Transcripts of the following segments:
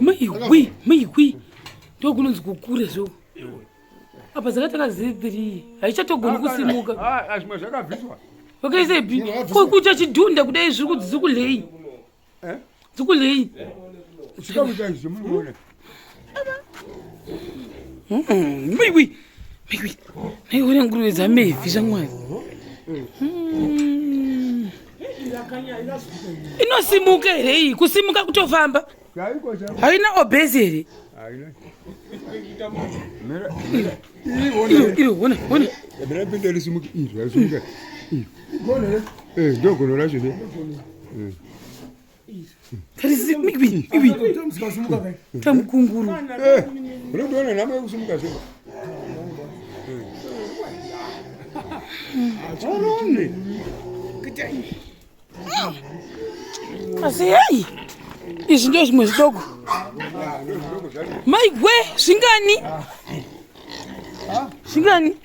maiwi maiwi ndokunonzi kukure zvo apa dzakatanga ziri three haichatogoni kusimuka zvimwe zvakabviswa vakaisepi kokucha chidhunda kudai zviri kuti dzikulei dzikulei Mm, wiwi wiwi naiona nguruve dzamevi zvamwari mm. inosimuka here iyi kusimuka kutofamba haina obhezi here ndogono racho tamukunguru unondiona nhamo yekusimuka zve asi hei izvi ndo zvimwe zvidoko maigwe zvingani zvingani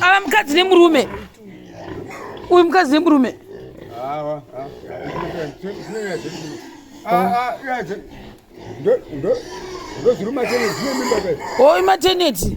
ava mukadzi nemurume uyu mukadzi nemurume oyi mateneti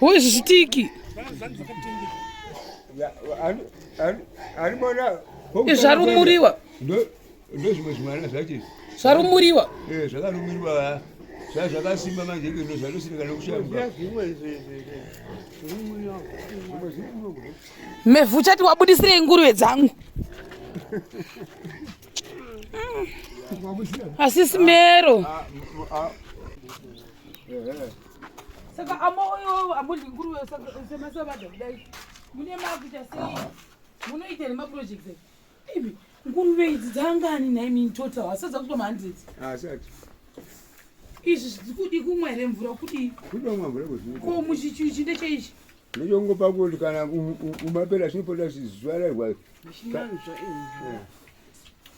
Wewe zvisitiki. Alimona. Izvarumuriwa. Ndo ndo zvimwe zvimwana zvacho. Zvarumuriwa. Eh, zvakarumuriwa. Sasa zvakasimba manje iko ndo zvanosina kana kushamba. Mevhu uchati wabudisirei nguruve dzangu. Asi simero. Ah, ah, ah. saka amo oyowo amodyi nguruve semasabada kudai mune makuita sei munoita nemaproject ibi nguruve idzi dzangani nhai mini total hasadza kuto mahandred ah, izvi zvikudi kumwa here mvura kudii kudomwa mvura ko muchichuchi ndecheichi ndechongopa kuti kana umapera chinopota zvizuva rarwa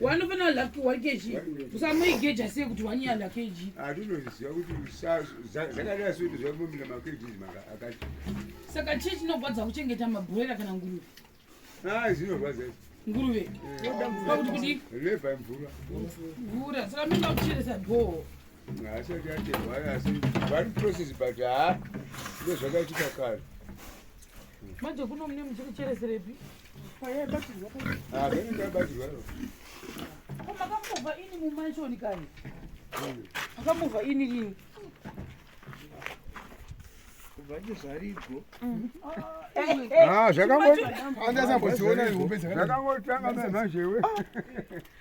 wanofanira laki one kg usamoigeja sei kuti one yala kg atinoziva kuti zvakadai soiti zvamomina makgs akati saka chii chinogwadza kuchengeta mabhuroira kana nguruve a zvinorwadza nguruve pakuti kudi leva mvura mvura saka minoda kucheresa bhoo asati aterwa asi vari process but ha ndozvakaitika kare manje kuno mune muchikuchereserepi makamova ini mumanshoni kani makamova ini ini zvakangotanga mezvazhewe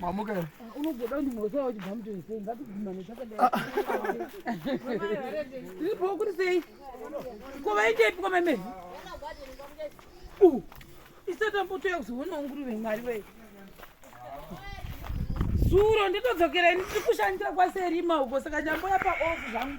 Mamuka. Unogoda kuti mose wawo chibva mutoi sei ngatibvumane takadai. Ndipo kuri sei? Ko vaitepi kwa meme? Uh. Isata mpoto yakuzoona nguruve mwari wei. Zuro nditodzokera ini tiri kushandira kwaserima uko saka nyambo yapa off zvangu.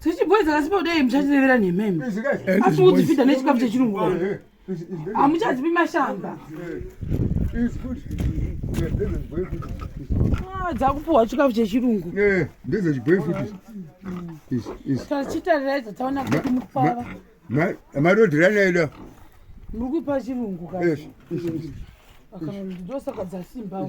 dzichibhoiza kasipa kudai muchatirevera nhema imi asi kudzifidha nechikafu chechirungu hamuchazivi mashamba ah, dzakupuhwa chikafu chechirungu tachitarira idzo taona kuti mukufara marodirana eda muri kuipa chirungu ka ndosaka dzasimba